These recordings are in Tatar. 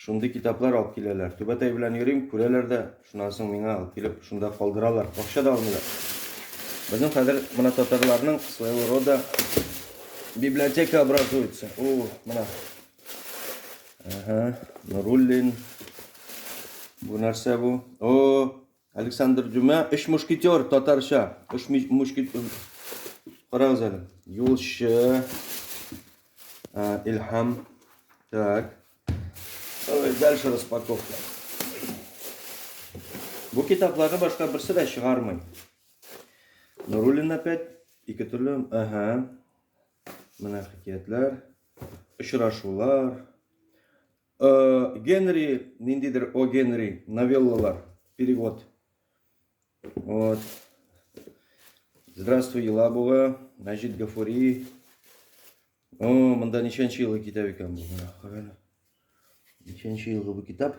Шундый китаплар алып киләләр. Түбәтәй белән йөрим, күрәләр дә, шуннан соң миңа алып килеп, шунда калдыралар. Акча да алмыйлар. Безнең хәзер менә татарларның своего рода библиотека образуется. О, менә. Ага, Нуруллин. Бу нәрсә бу? О, Александр Дюма, Өч мушкетер, татарча. Өч мушкетер. Карагыз әле. Юлчы. Илһам. Так. Давай дальше распаковка. Бу китапларны башка берсе дә чыгармый. Нуруллин опять ике төрле. Ага. Менә хикәятләр, очрашулар. Э, Генри, ниндидер О Генри, новеллалар, перевод. Вот. Здравствуй, Елабуга, Мәҗит Гафури. О, монда ничәнче елгы китап икән бу? Ничәнче елгы бу китап?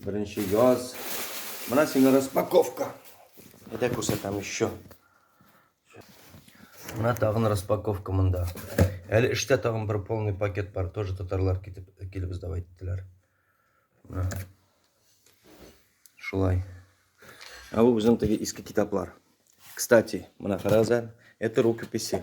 Беренче яз. Менә сиңа распаковка. Әйдә күрсәтәм еще. Менә тагын распаковка монда. Әле эштә тагын бер полный пакет бар. Тоже татарлар китеп килеп издап әйттеләр. Шулай. Ә бу безнең теге иске китаплар. Кстати, менә карагыз әле. Это рукописи.